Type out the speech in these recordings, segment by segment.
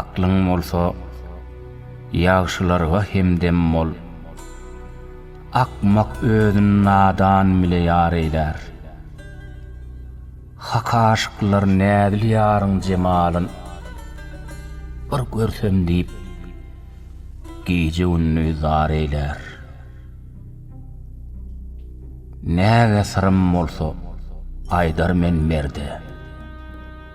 Aklyň bolsa, ýagşylarga hemdem bol. Akmak özün nadan bile ýar eýlär. Hak aşyklar näzil ýaryň jemalyn bir görsem diýip, gije-gündiz zar eýlär. Näge syrym bolsa, aýdar men merde.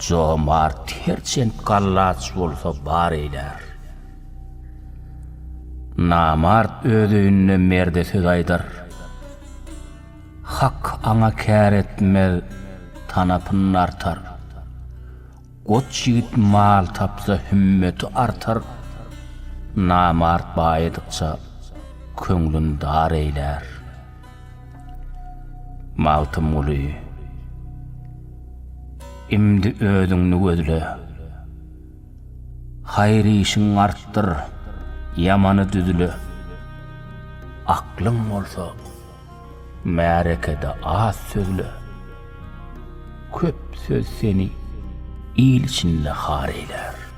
Jomart herçent gallaç bolsa bar eýlär. Namart öz öýünde merde söz aýdar. Hak aňa kär etmez, tanapyn artar. Goç ýigit mal tapsa hümmeti artar. Namart baýadykça köňlün dar eýlär. Magtymguly, imdi özüňni gözle. Haýyr işiň artdyr, ýamany düzle. Aklyň bolsa, märekede az sözle. Köp söz seni il içinde har eýlär.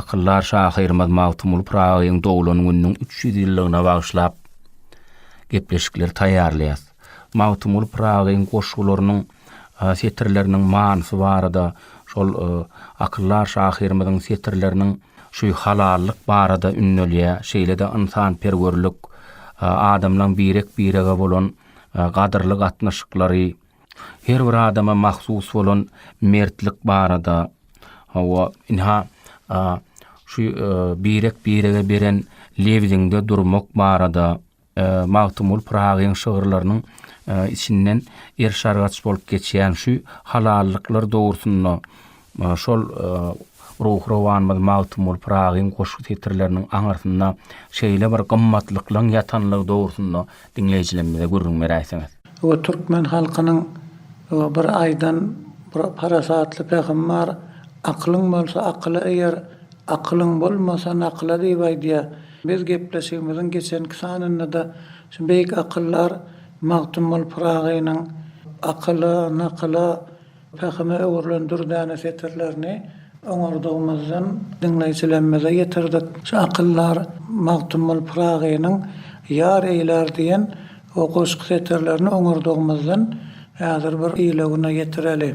Akyldar şahyrymyz Magtymguly Pyragyň doglan gününiň üç ýüz ýyllygyna bagyşlap gepleşikleri taýýarlaýas. Magtymguly Pyragyň goşgularynyň setirleriniň manysy barada, şol akyldar şahyrymyzyň setirleriniň şü halallyk barada ündälýär, şeýle-de ynsanperwerlik, adamlaň birek-birege bolan gadyrly gatnaşyklary, Her bir adama mahsus bolan mertlik barada, hawa, ynha, şu birek-birege beren lebziňde durmak barada, Magtymguly Pyragyň şygyrlarynyň içinden erşargaç bolup geçýän şu halallyklar dogrusynda Maňa şol ruhy-rowanymyz Magtymguly Pyragyň goşgy setirleriniň aňyrsynda şeýle bir gymmatlyklaň ýatanlygy dogrusynda diňleýjilerimize gürrüň beräýseňiz. Bu türkmen halkynyň bir aýdan bir parasatly pähim bar, Akylyň bolsa akyla eýer, akylyň bolmasa nakyla diýip aýdýar. Biz gepleşigimiziň geçenki sanynda-da şu beýik akyldar Magtymguly Pyragynyň akyla, nakyla, Pähime öwrülen dürdäne setirlerini oňurdygymyzdan diňleýjilerimize ýetirdik. Şu akyldar Magtymguly Pyragynyň Ýar eýlär diýen o goşgy setirlerini oňurdygymyzdan häzir bir ile-güne ýetireli.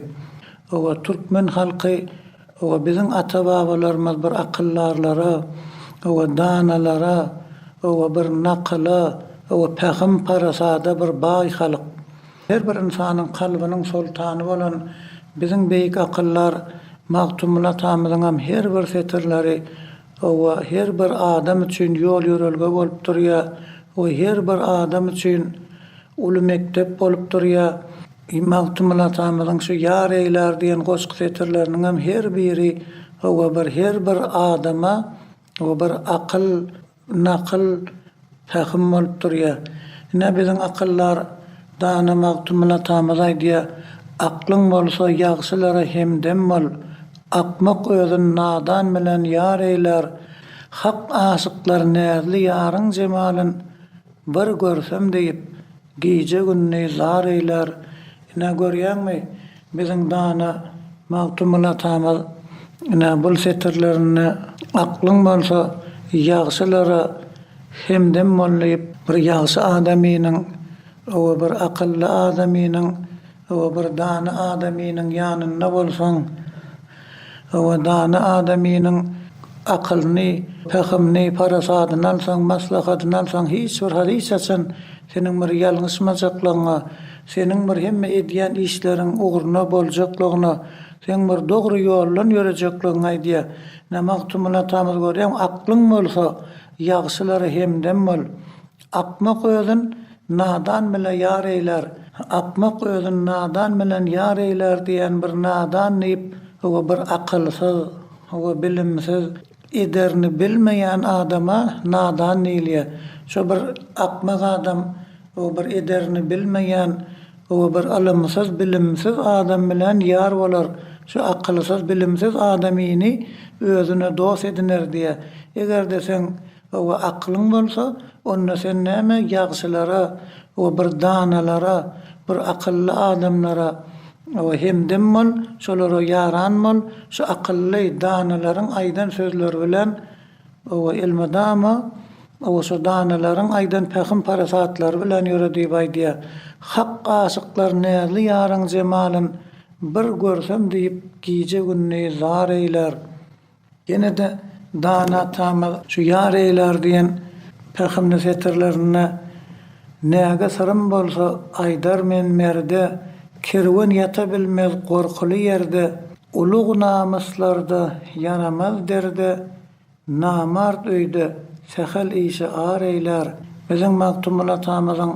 Owe, türkmen halky, owe, biziň ata-babalarymyz bir akyldarlara, owe, danalara, owe, bir nakyla, owe, pähim-parasada bir baý halk. Her bir ynsanyň kalbynyň soltany bolan biziň beýik akyldar Magtymguly atamyzyňam her bir setirleri, hawa, her bir adam üçin ýol-ýörelge bolup durýar we her bir adam üçin uly mekdep bolup durýar. Magtymguly atamyzyň şu Ýar eýlär diýen goşgy setirleriniňem her biri, hawa, bir her bir adama bir akyl, Indi akyl pähim bolup durýar. Ine, biziň akyldar, dana Magtymguly atamyz aýdýar, Aklyň bolsa, ýagşylara hemdem bol. Akmak özün nadan bilen ýar eýlär, Hak aşyklar näzli ýaryň jemalyn Bir görsem diýip, gije-gündiz zar eýlär. Ine, görýäňmi, biziň dana Magtymguly atamyz, ine, bul setirlerinde Aklyň bolsa, ýagşylara hemdem bol diýip, bir ýagşy adamynyň, owa, bir akylly adamynyň, Hawa bir dana adamynyň ýanynda bolsaň, hawa dana adamynyň akylyny, pähimini, parasadyny alsaň, maslahatyny alsaň hiç bir hal hiç haçan seniň bir ýalňyşmajaklygyňa, seniň bir hemme edýän işleriň ugruna boljaklygyna, seň bir dogry ýoldan ýörejekligiňi aýdýar. Ine Magtymguly atamyz görýäňmi, Aklyň bolsa, ýagşylara hemdem bol. Akmak özün nadan bile ýar eýlär, akmak özün nadan bilen ýar eýlär diýen bir nadan diýip we bir akylsyz we bilimsiz ederini bilmeýän adama nadan diýilýär. Şu bir akmak adam we bir ederini bilmeýän we bir ylymsyz bilimsiz adam bilen ýar bolar, şu akylsyz bilimsiz adam ini özüne dost ediner diýýär. Eger-de sen Hawa, akylyň bolsa, onda sen näme ýagşylara we bir danalara, bir akylly adamlara hemdem bol, şolara ýaran bol, şu akylly, danalaryň aýdan sözleri bilen elmydama şu danalaryň aýdan pähim-parasatlary bilen ýöre diýip aýdýar. Hak aşyklar näzli ýaryň jemalyn bir görsem diýip gije-gündiz zar eýlär. Ýene-de dana atamyz şu Ýar eýlär diýen pähimli setirlerinde, Näge syrym bolsa, aýdar men merde, Kerwen ýata bilmez gorkuly ýerde, Ulug namyslarda ýaramaz derde, Namart öýde sähel işe ar eýlär. Biziň Magtymguly atamyzyň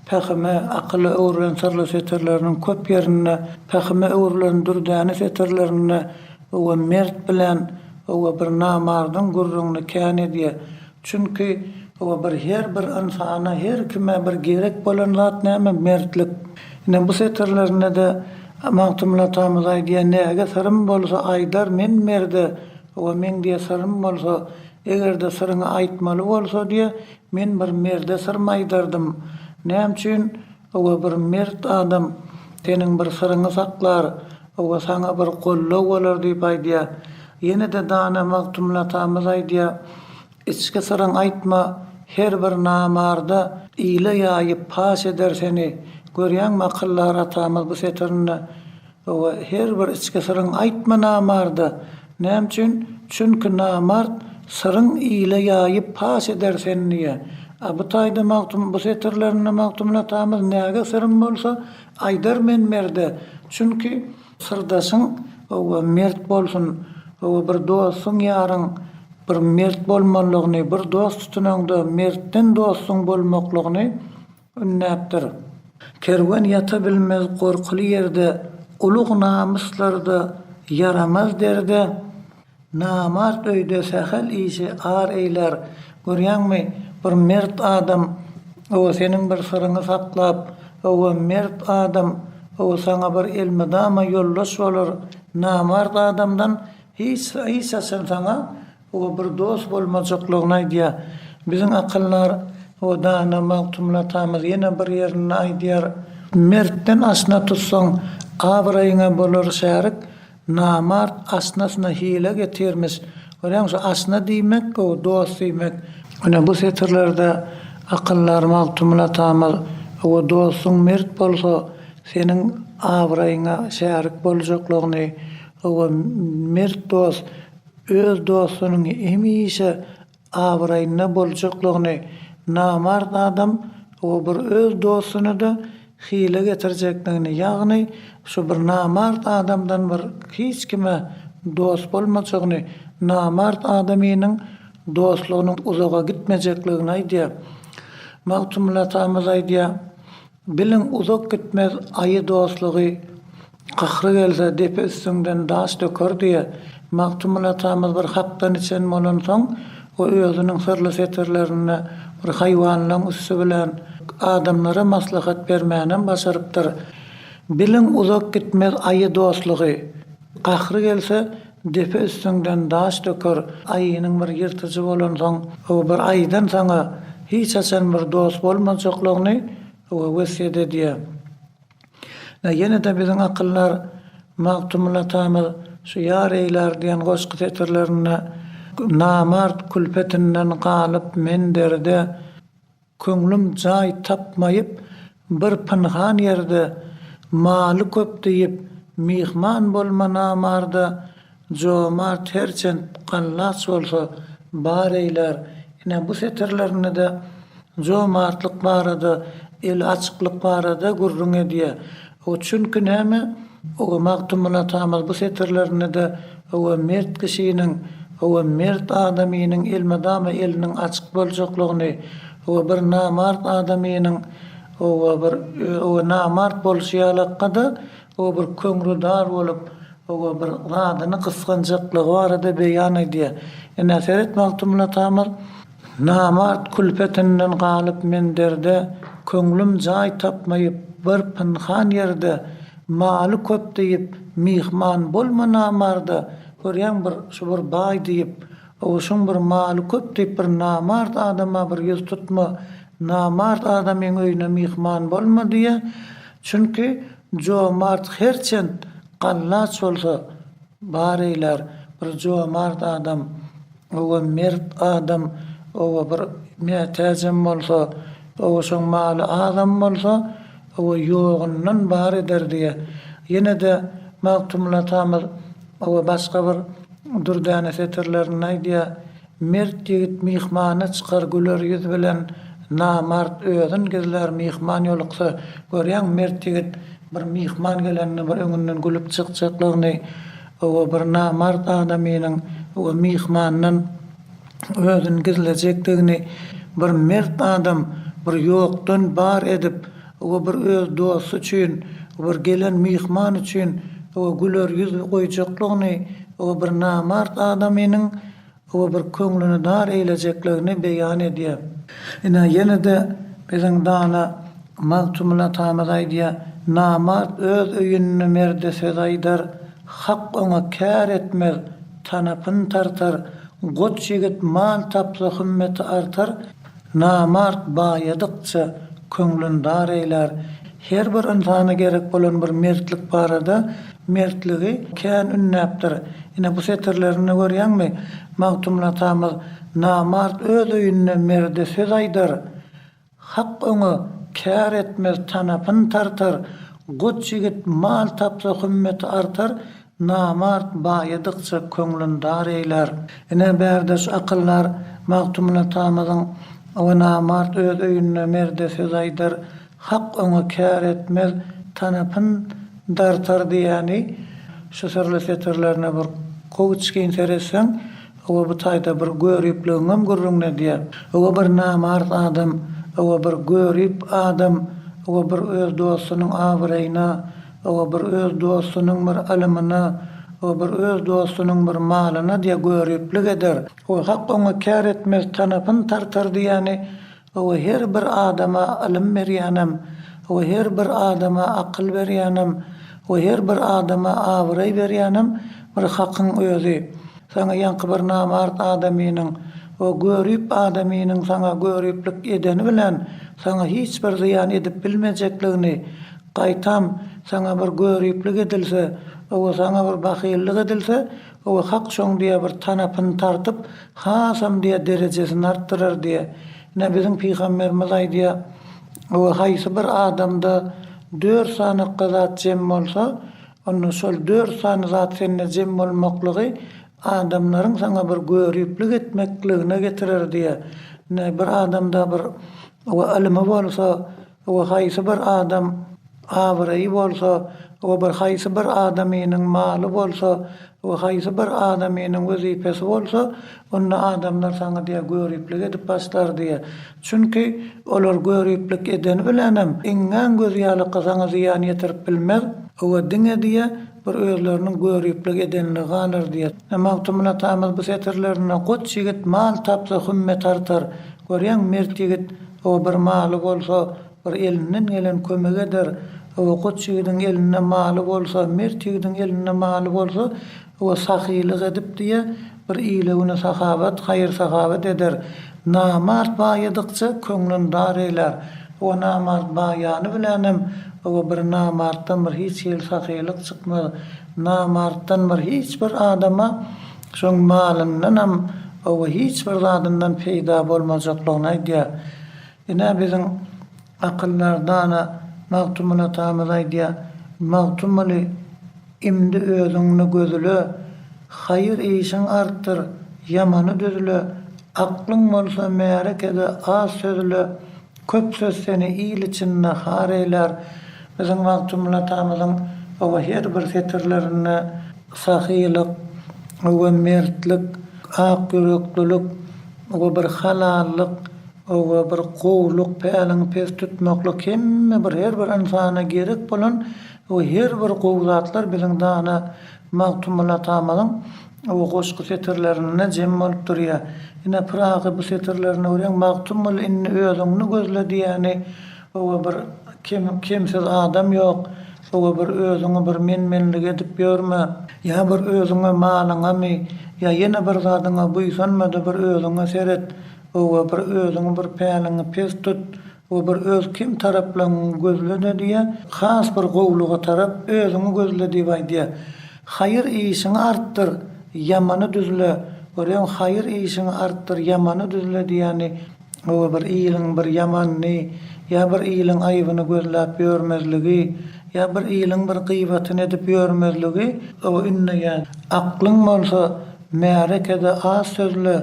pähime, akyla öwrülen syrly setirleriniň köp ýerinde, pähime öwrülen dürdäne setirlerinde, Howa mert bilen howa bir namardyň gürrüňini kän edýä. Çünki howa bir her bir ynsana her kime bir gerek bolan zat näme mertlik. Ine bu setirlerinde-de Magtymguly atamyz aýdýa näge syrym bolsa aýdar men merde howa meň diýe syrym bolsa egerde syryňy aýtmaly bolsa diýe men bir merde syrym aýdardym näme üçin Hawa bir mert adam seniň bir syryňy saklar, hawa saňa bir goldaw bolar diýip aýdýa. Ýene-de dana Magtymyl atamyz aýdýa, Içki syryň aýtma, her bir namarda ile ýaýyp paş eder seni. Görýäňmi akyldar atamyz bu setirinde Hawa, her bir içki syryň aýtma namarda. Näme üçin? Çünki namart syryň ile ýaýyp paş eder sen diýä. A bu taýda Magtym bu setirlerinde Magtymyl atamyz näge syrym bolsa, aýdar men merde. Çünki syrdaşyň, hawa, mert bolsun, hawa, bir dostuň, ýaryň bir mert bolmalygyny, bir dost tutunaňda mertden dostuň bolmaklygyny Ünnäpdir. Kerwen ýata bilmez gorkuly ýerde, Ulug namyslarda, ýaramaz derde. Namart öýde sähel işi ar eýlär. Görýäňmi, bir mert adam, ow, seniň bir syryňy saklap, ow, mert adam, ow, saňa bir elmydama ýoldaş bolar, namart adamdan hiç, hiç haçan saňa Oba bir dost bolmajaklygyny aýdýar. Biziň akyldar we dana Magtymguly atamyz ýene bir ýerinde aýdýar. Mertden aşna tutsaň, abraýyňa bolar şärik, namart aşnasyna hile getirmiş. Görýäňmi, şu aşna diýmek, gowy dost diýmek. Ine, bu setirlerde akyldar Magtymguly atamyz, Oba dostuň mert bolsa, seniň abraýyňa şärik boljaklygyny, oba mert dost, Öz dostunyň hemişe abraýynda boljaklygyny namart adam o bir öz dostuny-da hile getirjekligini ýagny şu bir namart adamdan bir hiç kime dost bolmajagyny namart adamynyň dostlugynyň uzaga gitmejekligini aýdýar. Magtymgulatamyz aýdýar, Biliň, uzak gitmez aýy dostlugy, Gahry gelse, depe üstüňden daş döker diýe, Magtymguly atamyz bir hakdan içen bolansoň, o özüniň syrly setirlerinde bir haýwanlaň üsti bilen adamlara maslahat bermänem başarypdyr. Biliň, uzak gitmez aýy dostlugy, Gahry gelse, Depe üstüňden daş döker aýynyň bir ýyrtyjy bolansoň ow bir aýydan saňa hiç haçan bir dost bolmajaklygyny ow wesýet edýär. Nä ýenede biziň akyldar Magtymyl atamyz şu Ýar eýlär diýen goşgy setirlerinde Namart külpetinden galyp men derde, Köňlüm jaý tapmaýyp, bir pynhan ýerde, Maly köp diýip, myhman bolma namarda. Jomart herçent gallaç bolsa, bar eýlär. Ine, bu setirlerinde-de jomartlyk barada, eli açyklyk barada gürrüň edýär. O çünki näme, oba Magtymguly atamyz bu setirlerinde-de oba mert kişiniň, oba mert adamynyň elmydama eliniň açyk boljaklygyny, oba bir namart adamynyň, oba bir, oba namart bolşy ýalakka-da, oba bir köňrüdar bolup, oba bir zadyny gysganjaklygy barada beýan edýär. Ine, seret, Magtymguly atamyz Namart külpetinden galyp men derde Köňlüm jaý tapmaýyp bir pynhan ýerde Maly köp diýip myhman bolma namarda Görýäň bir şu bir baý diýip Owuşyň bir maly köp diýip bir namart adama bir ýüz tutma Namart adamyň öýüne myhman bolma diýýä Çünki jomart herçent gallaç bolsa bar eýlär Bir jomart adam Oba mert adam, oba bir mätäjem bolsa, oba şoň maly azam bolsa, oba ýogyndan bar eder diýýä. Ýene-de Magtymguly atamyz oba başga bir dürdäne setirlerinde aýdýa, Mert ýigit myhmana çykar güler ýüz bilen, namart özün gizlär myhman ýoluksa. Görýäňmi, mert ýigit bir myhman gelende bir öňünden gülüp çykjaklygyny. Hawa, bir namart adamynyň we myhmandan özüni gizlejekdigini bir mert adam bir ýokdan bar edip we bir öz dosty üçin we bir gelen myhman üçin we güler ýüz goýjaklygyny we bir namart adamynyň Hawa bir köňlüni dar eýlejekligini beýan edýär. Ine ýene-de biziň dana Magtymguly atamyz aýdýar, Namart öz öýünde merde söz aýdar, Hak oňa kär etmez, tanapyn tartar, Goç ýigit mal tapsa hümmeti artar, Namart baýadykça, köňlün dar eýlär. Her bir ynsana gerek bolan bir mertlik barada mertligi kän ündäpdir. Ine, bu setirlerinde görýäňmi, Magtymguly atamyz, Namart öz öýünde merde söz aýdar, Hak öňe kär etmez, tanapyn tartar, Goç ýigit mal tapsa, hümmeti artar, Namart baýadykça köňlün dar eýlär. Ine, bärdeş akyldar Magtymgul atamyzyň Awa namart öz öýünde merde söz aýdar, hak oňa kär etmez, tanapyn dartar diýýäni şu syrly setirlerine bir gowyçgyn seretseň, owa bu taýda bir göripligiňem gürrüňini edýär. Owa bir namart adam, owa bir görip adam, owa bir öz dostunyň abraýyna, O bir öz dostunyň bir ylymyna, o bir öz dostunyň bir malyna diýe göriplik eder. O hak oňa kär etmez, tanapyn tartar diýýäni, o her bir adama ylym berýänem, o her bir adama akyl berýänem, o her bir adama abraý berýänem bir hakyň özi. Saňa ýaňky bir namart adamynyň, o görip adamynyň saňa göriplik edeni bilen saňa hiç bir zyýan edip bilmejekligini, Gaýtam, saňa bir göriplik edilse, owe saňa bir bahyllyk edilse, owe hak şoň diýe bir tanapyny tartyp, hasam diýe derejesini artdyrar diýe. Ine biziň pygamberimiz aýdýar, Owe haýsy bir adamda dört sanykga zat jem bolsa, onda şol dört sany zat sende jem bolmaklygy adamlaryň saňa bir göriplik etmekligine getirer diýe. Ine bir adamda bir owe ylymy bolsa, we haýsy bir adam abraýy bolsa we bir haýsy bir adamynyň maly bolsa we haýsy bir adamynyň wezipesi bolsa, onda adamlar saňa diýe göriplik edip başlar diýe. Çünki olar göriplik edeni bilenem iňňän gözi ýalaka saňa zyýan ýetirip bilmez we diňe diýe bir özleriniň göriplik edenligi galar diýe. Magtymguly atamyz bu setirlerinde Goç ýigit mal tapsa hümme tartar, görýäňmi mert ýigit Ho, bir maly bolsa, bir elinden gelen kömek eder. Ho, goç ýigidiň elinde maly bolsa, mert ýigidiň elinde maly bolsa, ho, sahylyk edip, diýe, bir ile-güne sahabat, haýyr-sahawat eder. Namart baýadykça, köňlün dar eýlär. Ho, namart baýany bilänem, ho, bir namartdan bir hiç hili sahylyk çykmaz. Namartdan bir hiç bir adama. Şoň malyndanam oba hiç bir zadyndan peýda bolmajaklygyny aýdýar. Ine, biziň akyldar dana Magtymguly atamyz aýdýar, Magtymguly, imdi özüňni gözle, haýyr işiň artdyr, ýamany düzle, aklyň bolsa märekede az sözle, Köp söz seni il için nahar eýlär Biziň Magtymguly atamyzyň oba her bir setirlerinde sahylyk oba mertlik ak ýüreklilik oba bir halallyk oba bir gowluk päliňi pes tutmaklyk hemme bir her bir ynsana gerek bolan oba her bir gowy zatlar biziň dana Magtymguly atamyzyň O goşgy setirlerinde jem bolup durýar. Ine, Pyragy bu setirlerine görýän, Magtymguly indi özüňni gözle diýýäni, oba bir kem, kemsiz adam ýok, oba bir özüňi bir men-menlik edip ýörme, ýa bir özüňe, malyňamy, ýa ýene bir zadyňa buýsanma-da bir özüňe seret, oba bir özüňi bir päliňi pes tut, Bu bir öz kim taraplaň gözlene diýýä, has bir gowluga tarap özüňi gözle diýip aýdýar. Haýyr işiňi artdyr, ýamany düzle, görýäňmi, haýyr işiňi artdyr, ýamany düzle diýýäni, bu bir iliň bir ýamanyny ýa bir iliň aýbyny gözläp ýörmezligi, ýa bir iliň bir gybatyny edip ýörmezligi ündeýär. Aklyň bolsa, märekede az sözle.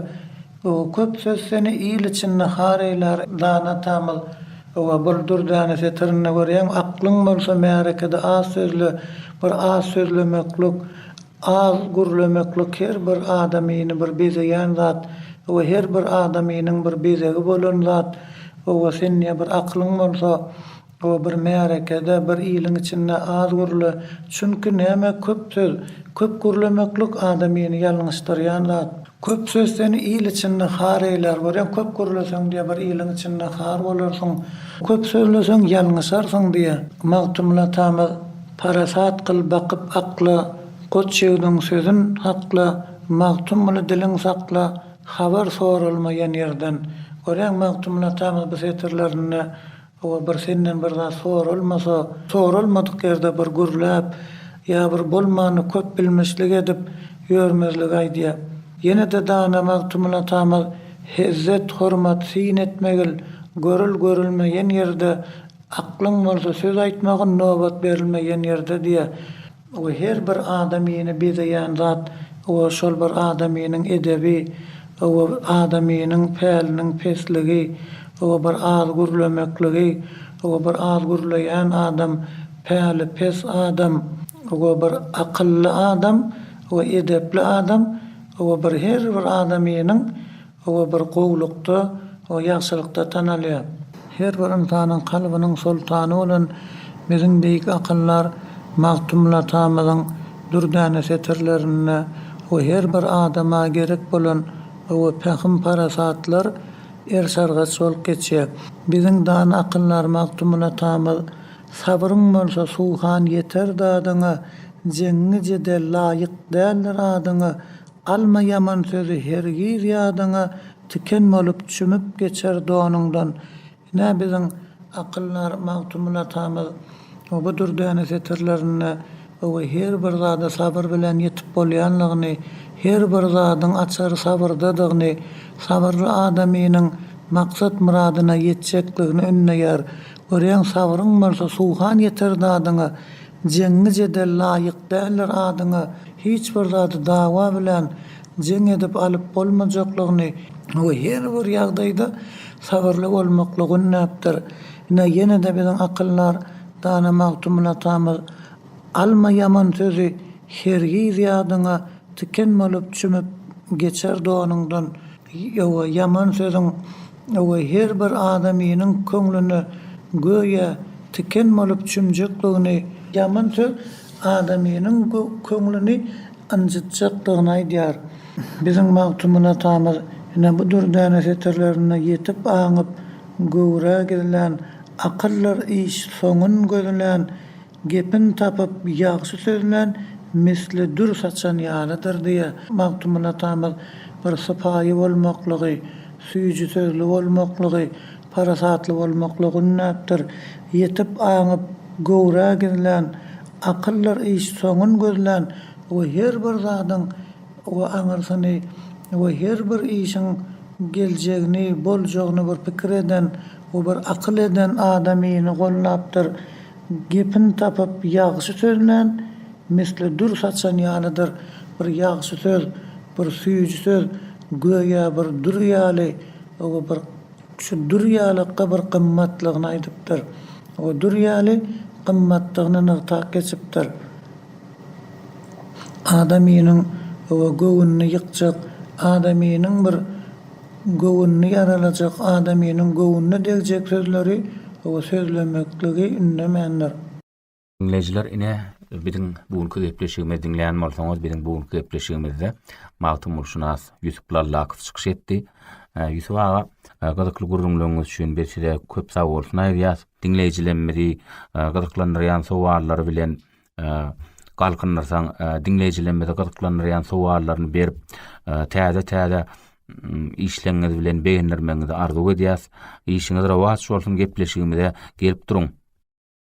O köp söz seni il içinde har eýlär dana atamyz owa bir dürdäni setirinde görýäň aklyň bolsa märekede az sözle bir az sözlemeklik az gürlemeklik her bir adamyny bir bezegän zat owa her bir adamynyň bir bezegi bolan zat owa sen ýa bir aklyň bolsa Bu bir märekede, bir iliň içinde az gürle, çünki näme köp söz, köp gürlemeklik adamyny ýalňyşdyrýan zat. Köp söz seni il içinde har eýlär, görýäň köp gürleseň diýe bir iliň içinde har bolarsyň, köp sözleseň ýalňyşarsyň diýe. Magtymguly atamyz Parasat kyl bakyp akla, Goç ýigdiň sözün hakla, Magtymguly diliň sakla, Habar soralmaýan ýerden. Görýäň Magtymguly atamyz bu setirlerinde Hawa bir senden bir zat soralmasa, soralmadyk ýerde bir gürläp ýa bir bolmany köp bilmişlik edip ýörmezligi aýdýa. Ýene-de dana Magtymyl atamyz Hezzet, hormat, syn etmegil, görül, görülme ýen ýerde, aklyň bolsa söz aýtmagyn, nobat berilme ýen ýerde diýýä. Oba her bir adamyny bezeýän zat, oba şol bir adamynyň edebi, oba adamynyň päliniň pesligi, oba bir az gürlemekligi, oba bir az gürleýän adam, päli pes adam, oba bir akylly adam, oba edepli adam, oba bir her bir adamynyň Hawa bir gowlukda we ýagşylykda tanalýar. Her bir ynsanyň kalbynyň soltany bolan biziň beýik akyldar Magtymguly atamyzyň dürdäne setirlerinde we her bir adama gerek bolan we pähim-parasatlar ersargaç bolup geçýär. Biziň dana akyldar Magtymguly atamyz, Sabryň bolsa suhan ýeter dadyňa, Jeňňi-jedel laýyk däldir adyňa, Alma ýaman sözi hergiz ýadyňa tiken bolup çümüp geçer donuňdan. Ine biziň akyldar Magtymguly atamyz bu dürdäne setirlerinde owe her bir zada sabyr bilen ýetip bolýanlygyny, her bir zadyň açary sabyrdadygyny, sabyrly adamynyň maksat myradyna ýetjekligini ündeýär. Görýäň sabryň bolsa suhan ýeter dadyňa. Jeňňi jedel laýyk däldir adyňa hiç bir zady dawa bilen jeň edip alyp bolmajaklygyny we her bir ýagdaýda sabyrly bolmaklygy ündäpdir. Ine ýene-de biziň akyldar dana Magtymguly atamyz Alma ýaman sözi hergiz ýadyňa tiken bolup çümüp geçer donuňdan ýowa ýaman sözüň Öweý her bir adamynyň köňlüne göýä tiken bolup çümjekligini, ýaman söz adamynyň köňlüni ynjytjakdygyny aýdýar. Biziň Magtymguly atamyz ine bu dürdäne setirlerinde ýetip aňyp göwrä gizlän, akyldyr iş soňun gözlän, Gepini tapyp, ýagşy sözlän misli dür saçan ýalydyr diýýä. Magtymguly atamyz bir sypaýy bolmaklygy, süýji sözli bolmaklygy, parasatly bolmaklygy ündäpdir. Ýetip aňyp, göwrä gizlän, akyldyr iş soňun gözlän we her bir zadyň we aňyrsyny we her bir işiň geljegini, boljagyny bir pikir eden we bir akyl eden adamyny goldapdyr. Gepini tapyp, ýagşy sözlän, misli dür saçan ýalydyr. Bir ýagşy söz, bir süýji söz, göýä bir dür ýaly. O-a bir şu dür ýalykka bir gymmatlygyny aýdypdyr. O dür ýaly gymmatdygyny nygtap geçipdir. Adamynyň, o-a göwnüni ýykjak, adamynyň bir. Göwnüni ýaralajak adamynyň göwnüne degjek sözleri we sözlemekligi ündemändir. Diňleýjiler ine biziň bu günki gepleşigimizi diňleýän bolsaňyz biziň bu günki gepleşigimizde Magtymgulşynas Ýusup Lallakow çykyş etdi. Ýusup aga gyzykly gürrüňleriňiz üçin biz size köp sagbolsun aýdýas. Diňleýjilemmizi gyzyklandyrýan sowallary bilen galkyndyrsaň, diňleýjilerimizi gyzyklandyrýan sowallaryny berip, täze-täze işleňiňiz bilen begendirmegiňizi arzuw edýäs. Işiňiz rowaç bolsun, gepleşigimize gelip duruň.